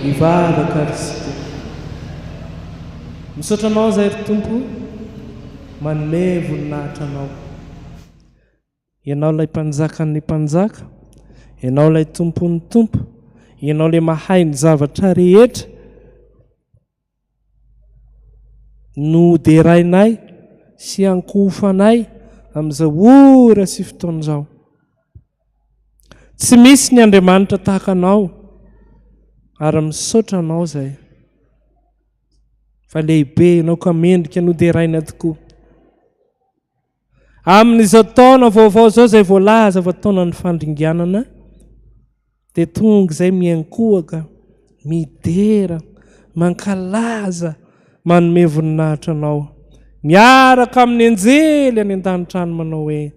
Mivavaka ary isika. Misaotra anao izay ry Tompo manome voninahitra anao. Ianao ilay Mpanjakan'ny mpanjaka, Ianao ilay Tompon'ny tompo, Ianao ilay mahay ny zavatra rehetra. Noderainay sy ankohofanay amin'izao ora sy fotoana izao. Tsy misy ny Andriamanitra tahaka anao ary misaotra anao izay fa lehibe ianao ka mendrika noderaina tokoa. Amin'izao taona vaovao izao izay voalaza fa taonan'ny fandringanana dia tonga izay miankohoka, midera, mankalaza, manome voninahitra anao. Miaraka amin'ny anjely any an-danitra any manao hoe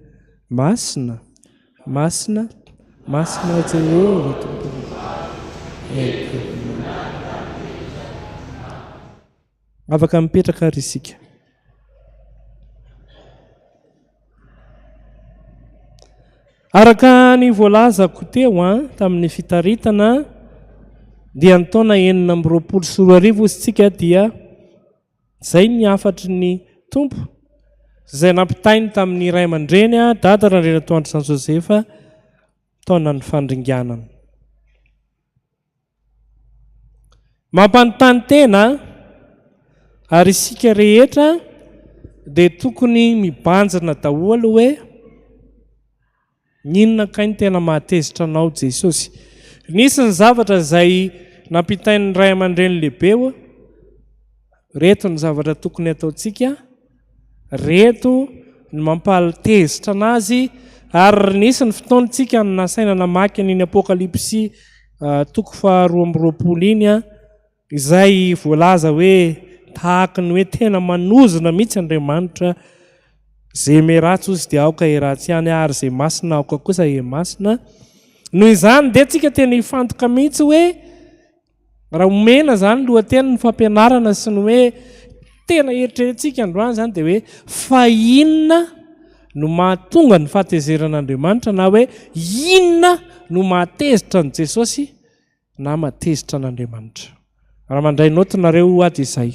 Masina, Masina, Masina Jehovah Tompo. Afaka mipetraka ary isika. Araka ny voalazako teo an, ah, tamin'ny fitaritana dia ny taona enina amby roapolo sy roa arivo isika dia izay ny hafatry ny tompo izay nampitainy tamin'ny iray aman-dreny ah, dada Randrianatoandro Jean Joseph taona ny fandringanana. Mampanontany tena an! Ary isika rehetra dia tokony mibanjina daholo hoe inona kay no tena mahatezitra anao Jesosy? Nisy ny zavatra izay nampitain'ny ray aman-dreny lehibe hoe ireto ny zavatra tokony hataontsika Reto ny mampaltezitra anazy ary nisy ny fotoana tsika no nasaina namaky an'iny apokalypsy toko faha roa amby roapolo iny izay voalaza hoe tahaka ny hoe tena manozona mihitsy Andriamanitra, ze me ratsy ozy dia aoka he ratsy ihany ary ze masina aoka kosa he masina, noho izany dia tsika tena hifantoka mihitsy hoe Raha omena izany lohateny ny fampianarana sy ny hoe tena eritreretintsika androany izany dia hoe fa inona no mahatonga ny fahatezeran'Andriamanitra na hoe inona no mahatezitra an'i Jesosy na mahatezitra an'Andriamanitra. Raha mandray naoty nareo ho ady izay.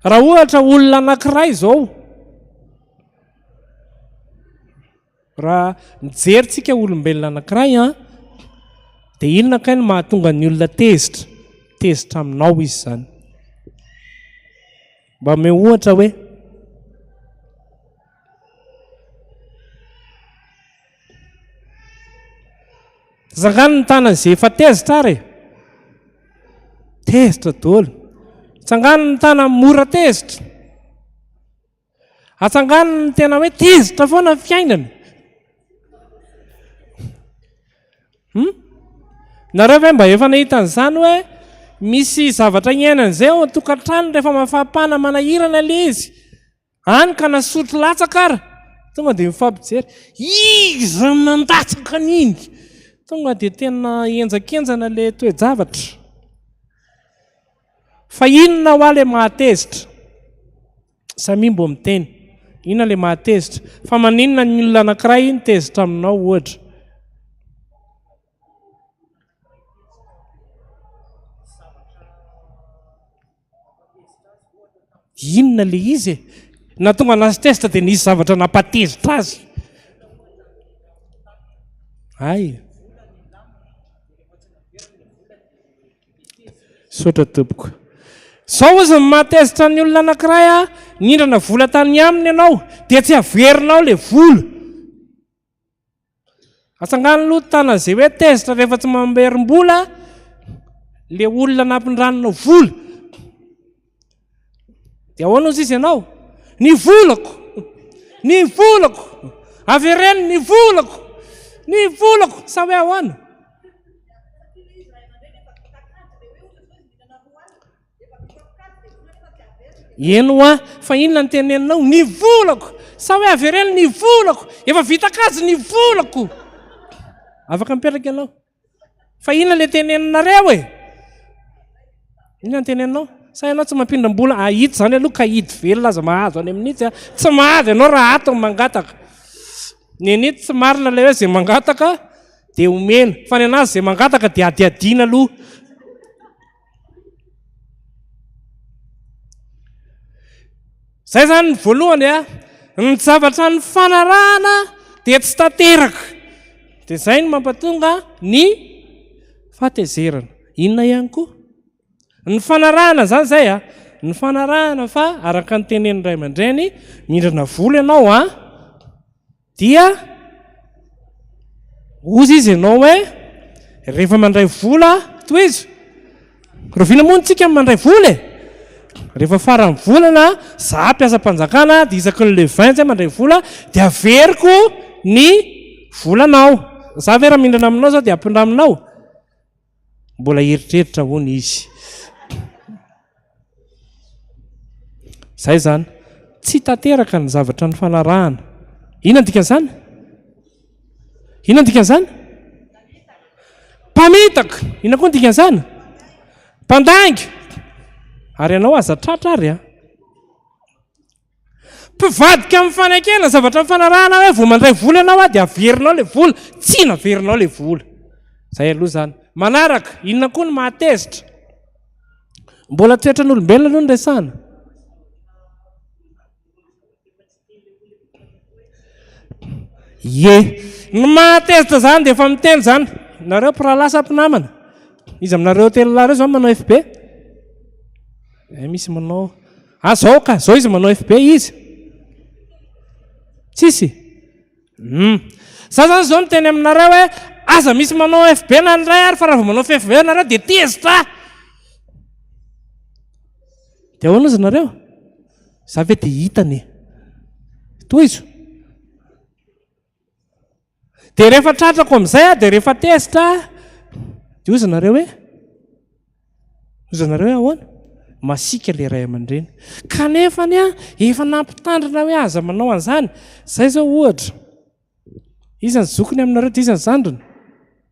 Raha ohatra olona anankiray izao, raha mijery tsika olombelona anankiray an, dia inona kay no mahatonga ny olona tezitra? Tezitra aminao izy izany. Mba omeo ohatra hoe Zangano ny tanany izay efa tezitra ary e. Tezitra dolo. Tsangano ny tanany mora tezitra. Atsangano ny tena hoe tezitra foana fiainana. Hum? Nareo ve mba efa nahita an'izany hoe misy zavatra iainana izay ao an-tokantrano rehefa mafampana manahirana ilay izy? Any ka nasotro latsaka ary tonga dia mifampijery. Iza no nandatsaka an'iny? Tonga dia tena henjakenjana ilay toe-javatra. Fa inona hoa ilay mahatezitra? Samia mbo miteny. Inona ilay maha tezitra? Fa maninona ny olona anankiray iny tezitra aminao ohatra? Inona le izy e? Na tonga anazy tezitra dia nisy zavatra nampatezitra azy. Hay. Misaotra tompoko. Izao hozy ny mahatezitra ny olona anankiray a, nindrana vola tany aminy ianao dia tsy averinao ilay vola. Atsangano aloha ny tanana izay hoe tezitra rehefa tsy mamerim-bola ilay olona nampindrananao vola. Dia ahoana hozy izy ianao? Ny volako! Ny volako! Avereno ny volako! Ny volako! Sa hoe ahoana? Eno hoa, fa inona ny teneninao? Ny volako! Sa hoe avereno ny volako! Efa vita kajy ny volako! Afaka mipetraka ianao. Fa inona le teneninareo e? Inona ny teneninao? Sa ianao tsy mampindram-bola? Ah, ito izany aloha ka ito velona aza mahazo any amin'itsy a. Tsy mahazo ianao raha ato ny mangataka. Ny an'ito tsy marina ilay hoe izay mangataka dia omena. Fa ny an'azy izay mangataka dia adihadiana aloha. Zay zany ny voalohany a, ny zavatra ny fanarahana dia tsy tanteraka. Dia zay ny mampatonga ny fatezerana. Inona ihany koa? Ny fanarahana zany zay a, ny fanarahana fa araka ny tenenin'ny ray aman-dreny, mindrana vola ianao a, Dia hozy izy ianao hoe rehefa mandray vola, tohizo, rahoviana moa ntsika mandray vola e? Rehefa faran'ny volana, za mpiasam-panjakana, dia isaky ny le 20 zay mandray vola, dia averiko ny volanao. Za ve raha mindrana aminao zao dia ampindraminao? Mbola hieritreritra hono izy. Izay izany. Tsy tanteraka ny zavatra nifanarahana. Inona ny dikan'izany? Inona ny dikan'izany? Mpamitaka. Inona koa ny dikan'izany? Mpandainga. Ary ianao aza tratra ary a. Mpivadika amin'ny fanekena zavatra mifanarahana hoe vao mandray vola ianao aho dia averinao ilay vola, tsia naverinao ilay vola. Izay aloha izany. Manaraka, inona koa no mahatezitra? Mbola toetran'olombelona aloha no resahana. Ye, ny mahatezitra izany dia efa miteny izany. Nareo mpirahalahy sa mpinamana? Iza aminareo telo lahy ireo izao manao FB? Eh, misy manao. Ah zao ka, zao izy manao FB izy? Tsisy? Hum. Za zany zao miteny aminareo hoe aza misy manao FB na ny iray ary fa raha vao manao FB ianareo dia tezitra ah! Dia ahoana izy nareo? Za ve dia hitany? Tohizo. Dia rehefa tratrako amin'izay aho, dia rehefa tezitra aho, dia hoy izy nareo hoe, hoy izy nareo hoe ahoana? Masiaka ilay ray aman-dreny. Kanefa anie efa nampitandrina hoe aza manao an'izany. Izay izao ohatra, iza ny zokiny aminareo dia iza ny zandriny?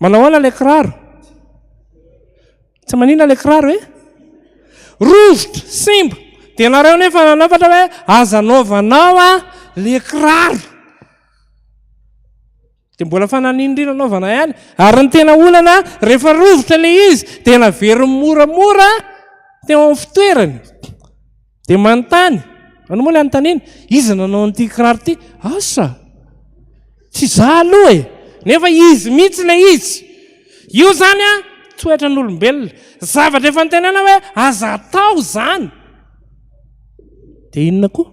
Manao ahoana ilay kiraro? Tsy manina ilay kiraro e? Rovitra, simba. Dia ianareo nefa nanafatra hoe aza anaovanao a le kiraro. Dia mbola fananindrina anaovana ihany. Ary ny tena olana rehefa rovitra ilay izy dia naveriny moramora teo amin'ny fitoerany. Dia manontany, anao moa ilay anontaniana, iza nanao an'ity kiraro ity? Asa! Tsy za aloha e! Nefa izy mihitsy ilay izy. Io zany a, toetra n'olombelona. Zavatra efa nitenena hoe aza atao zany. Dia inona koa?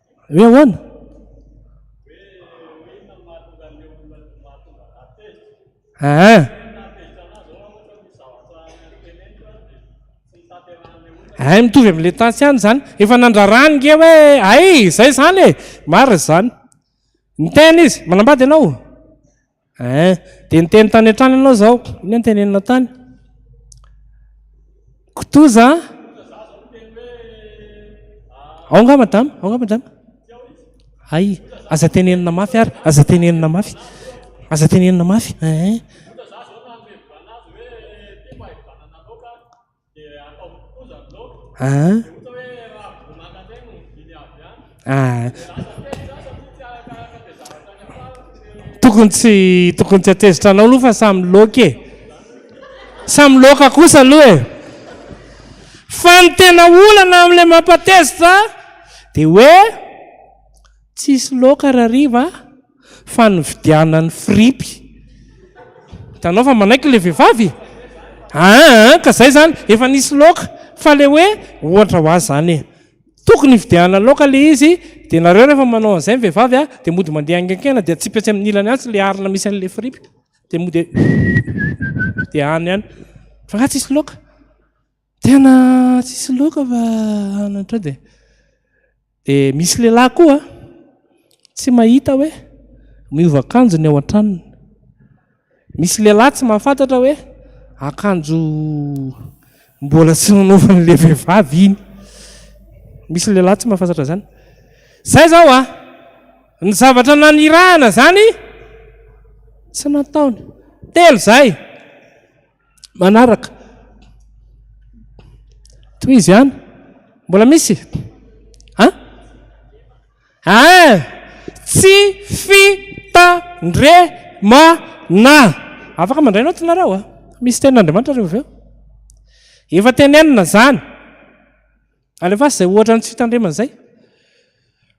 Hoe ahoana? Ah. Ay eh, mitovy amin'ilay tansy any izany. Efa nandrarany nge hoe ay izay izany e. Marina izany. Niteny izy, manambady ianao? Eh, dia niteny tany an-trano ianao izao. Inona no teneninao tany? Kitoza? Ao nga madama, ao nga madama. Hay, aza tenenina mafy ary, aza tenenina mafy. Aza tenenina mafy. Eh. Tokony tsy tokony tsy atezitra anao aloha fa samy loaka e. Samy loaka kosa aloha e. Fa ny tena olana amin'ilay mampatezitra dia hoe tsisy loaka rariva. fa nividianany fripy. Hitanao fa manaiky ilay vehivavy e! Aa ka izay izany, efa nisy loaka, fa ilay hoe ohatra ho azy izany e! Tokony hividianana loaka ilay izy, dia nareo rehefa manao an'izay ny vehivavy dia mody mandeha haingainkena dia atsipy atsy amin'ny ilany atsy ilay harona misy an'ilay fripy dia mody dia any any, fa angaha tsisy loaka? Tena tsisy loka fa anatra dia dia misy lehilahy koa tsy mahita hoe miova akanjo ny ao an-tranony. Misy lehilahy tsy mahafantatra hoe akanjo mbola tsy nanaovan'ilay vehivavy iny. Misy lehilahy tsy mahafantatra izany. Izay izao a, ny zavatra nanirahana izany tsy nataony. Telo izay. Manaraka. Tohizo ihany. Mbola misy? Ha? Ah! Tsy fitandremana. Afaka mandray naoty nareo ah. Misy tenin'Andriamanitra reo avy Efa tenenina zany. Alefaso izay ohatra ny tsy fitandremana izay.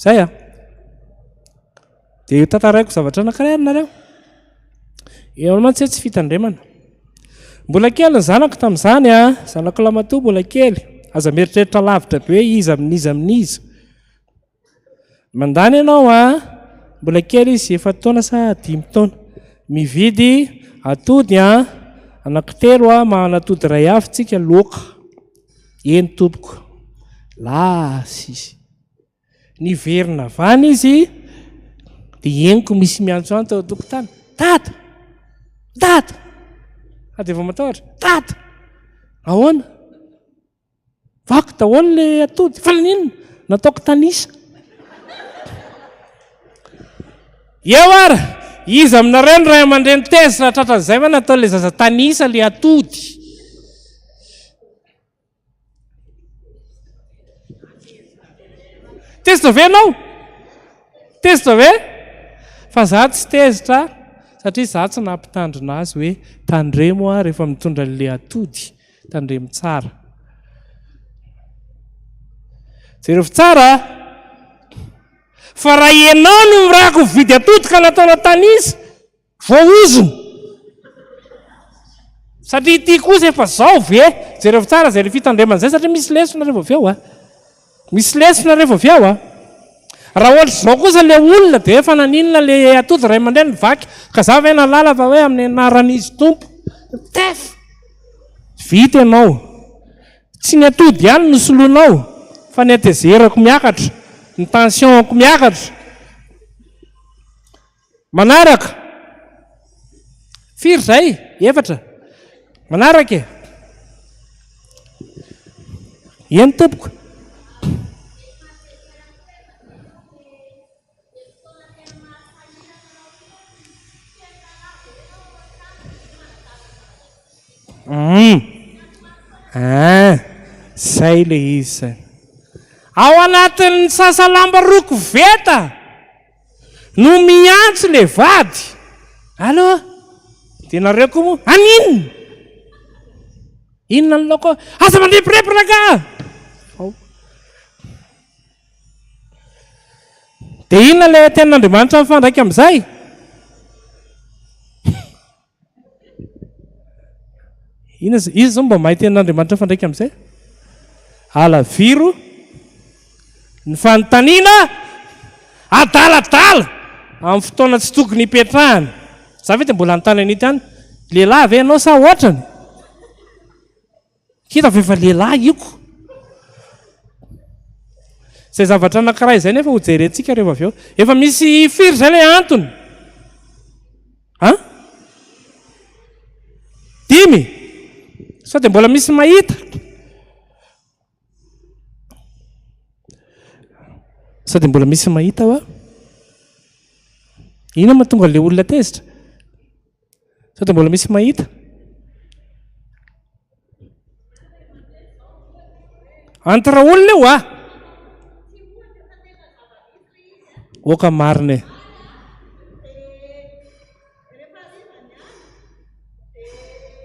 Zay a! Dia hotantaraiko zavatra anankiray ary nareo. Eo ihany mantsy hoe tsy fitandremana. Mbola kely ny zanako tamin'izany a, zanako lamatoa mbola kely. Aza mieritreritra lavitra be hoe iza amin'iza amin'iza. Mandany ianao a, mbola kely izy efatra taona sa dimy taona. Mividy atody a, anankitelo a, mahan'atody iray avy tsika loaka. Eny tompoko. Lasa izy. Niverina avy any izy dia henoko misy miantso any tao an-tokotany. Dada! Dada! Fa dia vao matahotra. Dada! Ahoana? Vaky daholo ilay atody. Fa naninona? Nataoko tanisa. Eo ary, iza aminareo no ray aman-dreny tezitra raha tratran'izay ve nataon'ilay zaza tanisa ilay atody? Tezitra ve ianao? Tezitra ve? Fa za tsy tezitra satria za tsy nampitandrina azy hoe tandremo aho rehefa mitondra an'ilay atody, tandremo tsara. Jereo tsara. Fa raha ianao no mirako mividy atody ka nataonao tanisa, voahozona. Satria ity kosa efa zao ve? Jereo tsara izay fitandremana izay satria misy lesona revo avy eo a. Misy lesona revo avy eo a. Raha ohatra izao kosa le olona dia efa naninona le atody ray aman-dreny nivaky ka za ve nalala fa hoe amin'ny anaran'izy tompo. Tef! Vita ianao. Tsy ny atody ihany no soloinao fa ny hatezerako miakatra, ny tension-ko miakatra. Manaraka, firy izay? Efatra? Manaraka e! Eny tompoko. Humm ah zay le izy zay. Ao anatin'ny sasalamba roa koveta no miantso le vady. Allo, dia nareo koa moa aninn? Inona ny laoko? Aza mandrebireby rangah! Dia inona ilay tenin'Andriamanitra mifandraika amin'izay? Inona izy izao mba mahay tenin'Andriamanitra mifandraika amin'izay? Alaviro ny fanontaniana adaladala amin'ny fotoana tsy tokony hipetrahana. Za ve dia mbola anontany an'ity any? Lehilahy ve ianao sa ohatrany? Hita fa efa lehilahy io ko. Izay zavatra anankiray izay nefa ho jerentsika rehefa avy eo. Efa misy firy izay ilay antony? Ha? Dimy? Sao dia mbola misy mahita? Sao dia mbola misy mahita va? Inona ma tonga ilay olona tezitra? Sao dia mbola misy mahita? Entre olona io ah! Oka marina e.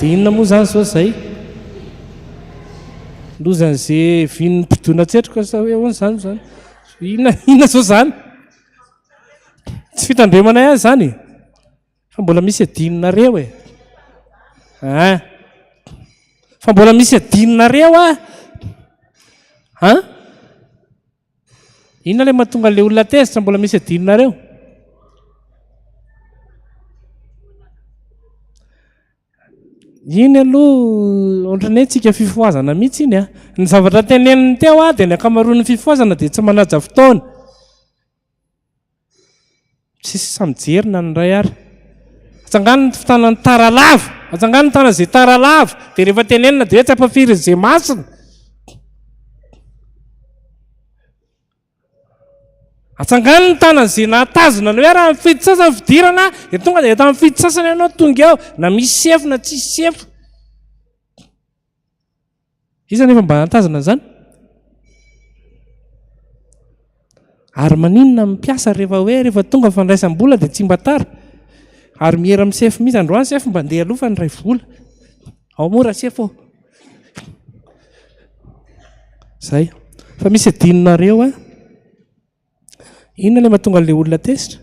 Dia inona moa izany izao izay? Lozan'izay vin'ny mpidona an-tsetroka sa hoe ahoana izany izany? Inona inona izao izany? Tsy fitandremanay azy izany e. Fa mbola misy adinonareo e. Ah. Fa mbola misy adinonareo ah. Ah. Inona ilay mahatonga ilay olona tezitra mbola misy adinonareo? Iny aloha ohatran'ny hoe tsika fifohazana mihitsy iny a. Ah. Ny zavatra teneniny teo a ah, dia ny ankamaroan'ny fifohazana dia tsy manaja fotoana. Tsisy sahy mijery na ny iray ary. Atsangano ny tanan'ny tara lava, atsangano ny tanan'izay tara lava, dia rehefa tenenina dia hoe tsy ampahafirin'izay masina. Atsangano ny tanan'izay nahatazona ny hoe raha ny fety sasany fidirana, dia tonga dia tamin'ny fety sasany ianao tonga eo, na misy sefo na tsisy sefo. Iza anefa mba hahatazana an'izany? Ary maninona ny mpiasa rehefa hoe rehefa tonga ny fandraisam-bola dia tsy mba tara? Ary miera amin'ny sefo mihitsy, androany sefo mba ndeha aloha fa niray vola. Ao moa raha sefo ô. Zay. Fa misy adinonareo a. Inona ilay mahatonga an'ilay olona tezitra?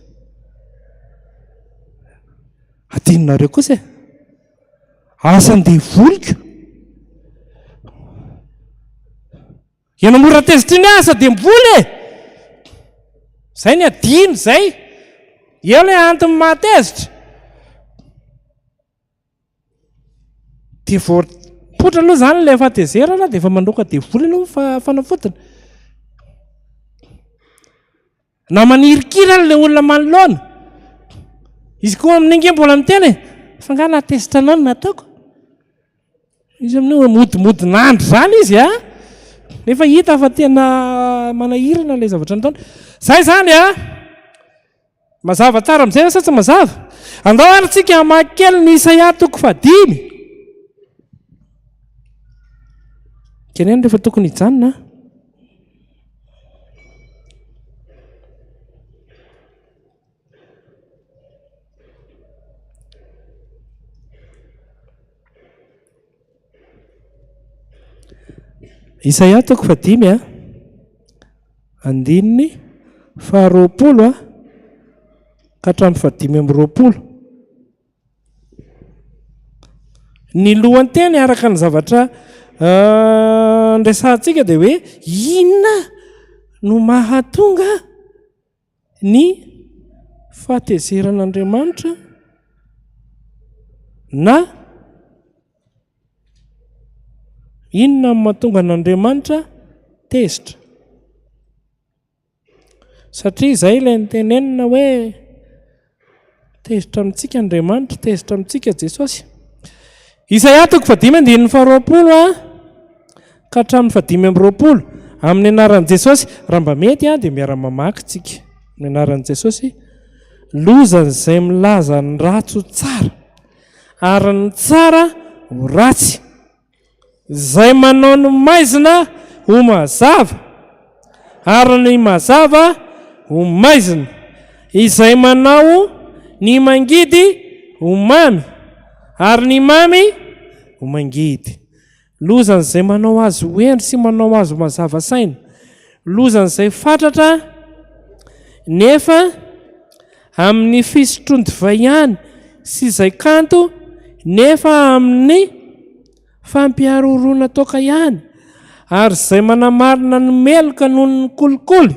Adinonareo kosa e. Asan'ny devoliko. Ianao mora tezitra iny asa devoly e. Zay ny adino zay. Eo ilay antony mahatezitra. Dia vao poitra aloha izany ilay fahatezerana dia efa mandroaka devoly aloha ny fanafodiny. Na manirikiry ary ilay olona manoloana. Izy koa amin'iny ange mbola miteny e, fa nga na test anao no nataoko. Izy amin'iny hoe modimodin'andry izany izy a. Nefa hita fa tena manahirana ilay zavatra nataony. Izay izany a! Mazava tsara amin'izay ve sa tsy mazava? Andao ary tsika hamaky kely ny Isaia toko fahadimy. Keneno rehefa tokony hijanona. Isaia toko fahadimy a, andininy faharoapolo a, ka hatramin'ny fahadimy amby roapolo. Ny lohanteny araka ny zavatra andresahantsika dia hoe inona no mahatonga ny fahatezeran'Andriamanitra na inona no mahatonga an'Andriamanitra tezitra. Satria izay ilay nitenenina hoe. Tezitra amintsika Andriamanitra, tezitra amintsika Jesosy. Isaia toko fahadimy andininy faharoapolo a, ka hatramin'ny fahadimy amby roapolo, amin'ny anaran'i Jesosy, raha mba mety a, dia miara-mamaky tsika, amin'ny anaran'i Jesosy, lozan'izay milaza ny ratsy ho tsara, ary ny tsara ho ratsy, Izay manao ny maizina ho mazava, ary ny mazava ho maizina, izay manao ny mangidy ho mamy, ary ny mamy ho mangidy. Lozan'izay manao azy ho heno sy manao azy ho mazava saina, lozan'izay fatratra nefa. Amin'ny fisotron-divay ihany sy izay kanto nefa amin'ny fampiharoroana toaka ihany ary izay manamarina ny meloka noho ny kolikoly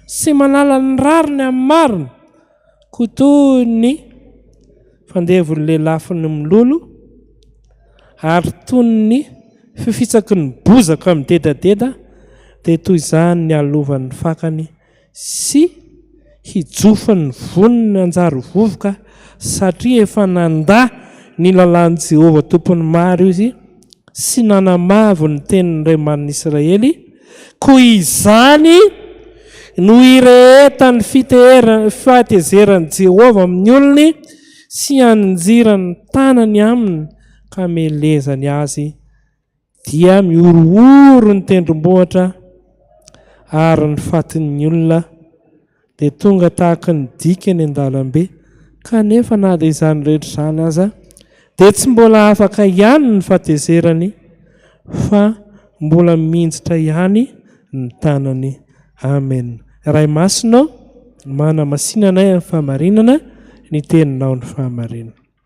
sy manala ny rariny amin'ny marina koa toy ny fandevon'ny lelafin'ny mololo ary toy ny fifitsaky ny bozaka midedadeda dia toy izany nialovan'ny fakany sy hijofin'ny voniny hanjary vovoka satria efa nandà ny lalàn'i Jehovah Tompon'ny maro izy sy nanamavo ny tenin'ny Ray manin'i Israely, koa izany no hirehetan'ny fahatezeran'i Jehovah amin'ny olony sy hanjirany ny tanany aminy ka hamelezany azy. Dia mihorohoro ny tendrombohitra ary ny fatin'ny olona dia tonga tahaka ny dika eny an-dalambe, kanefa na dia izany rehetra izany aza dia tsy mbola afaka ihany ny fatezerany fa mbola minjitra ihany ny tanany. Amen Ray Masina ô, manamasina anay amin'ny fahamarinana, ny Teninao no fahamarinana.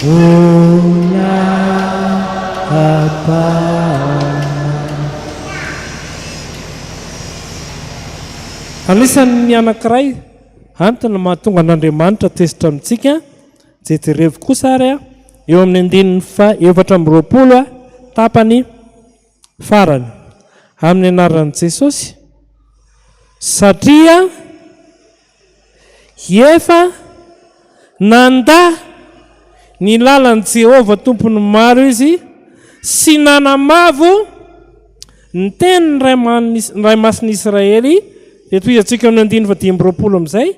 Voina ampahana. Anisan' ny anankiray antony mahatonga an' Andriamanitra tezitra amintsika, jeterevo kosa ary eo amin' ny andininy fahaefatra amby roapolo tapany farany, amin' ny anaran' i Jesosy, satria. Hiefa nandà ny lalan'i Jehovah Tompon'ny maro izy sy nanamavo ny tenin'ny Ray Masin'i Israely, dia toy izay tsoin'ny amin'ny andininy fahadimy amby roapolo amin'izay,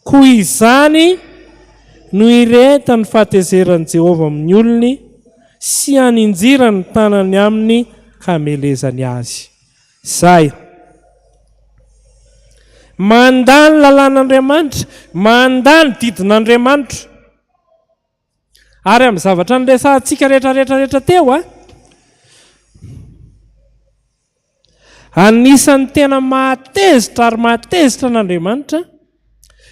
Koa izany no irehetan'ny fahatezeran'i Jehovah amin'ny olony, sy haninjirany ny tanany amin'ny hamelezany azy. Izay. Mandà ny lalàn'Andriamanitra, mandà ny didin'Andriamanitra. Ary amin'ny zavatra niresahantsika rehetra rehetra rehetra teo a, anisan'ny tena mahatezitra ary mahatezitra an'Andriamanitra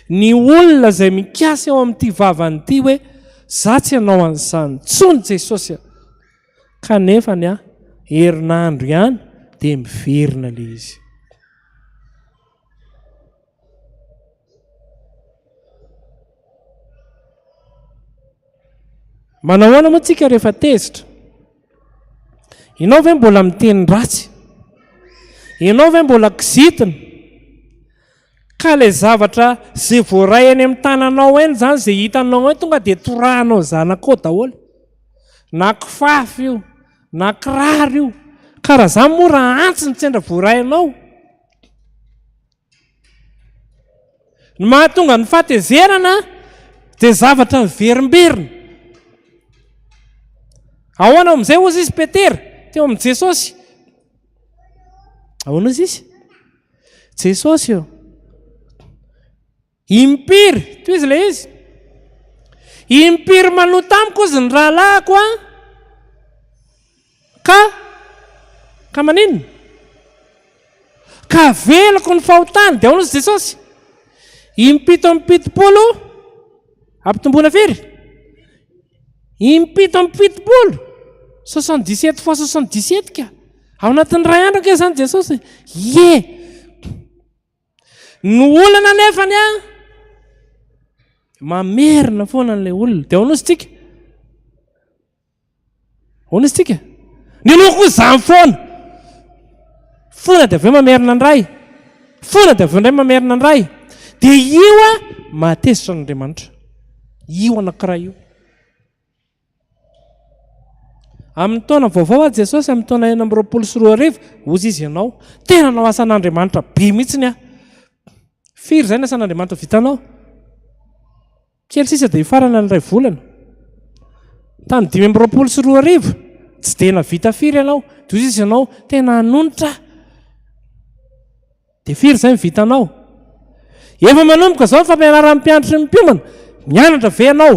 ny olona izay mikasa eo amin'ity vavany ity hoe za tsy hanao an'izany intsony Jesosy a. Kanefa ny ahy, herinandro ihany dia miverina ilay izy. Manao ahoana moa tsika rehefa tezitra? Ianao ve mbola miteny ratsy? Ianao ve mbola kizitina? Ka ilay zavatra izay voaray eny amin'ny tananao eny izany, izay hitanao eny, tonga dia torahanao zanakao daholo. Na kifafa io, na kiraro io. Ka raha izany moa raha antsy ny sendra voaray anao. Ny mahatonga ny fahatezerana dia zavatra miverimberina. Ahoana amin'izay hozy izy Petera, teo amin'i Jesosy? Ahoana hozy izy? Jesosy eo. Impiry, toy izy ilay izy. Impiry manoa tamiko izy ny rahalahiko an. Ka, ka maninona? Ka veloko ny fahotany, dia ahoana Jesosy? Impito amby pitopolo, ampitomboana firy? Impito amby fitopolo, soixante dix sept fois soixante dix sept ka. Ao anatin'ny ray andro ange zany Jesosy. Ie. Ny olana nefa ny an, mamerina foana an'ilay olona. Dia ao nosy tsika. Ahoana izy tika? Ny loha koa izany foana. Fona dia avy eo mamerina ny ray. Fona dia avy eo indray mamerina ny ray. Dia io a mahatezitra an'Andriamanitra. Io anankiray io. Amin'ny taona vaovao a Jesosy amin'ny taona enina amby roapolo sy roa arivo, ozy izy ianao. Tena nao asan'Andriamanitra be mihitsy ny ahy. Firy izay ny asan'Andriamanitra vitanao? Kely sisa dia hifarana ny iray volana. Tamin'ny dimy amby roapolo sy roa arivo, tsy dia nahavita firy ianao. Toy izay izy ianao, tena hanonitra aho. Dia firy izay ny vitanao? Efa manomboka izao ny fampianaran'ny mpianatry ny mpiomana. Mianatra ve ianao?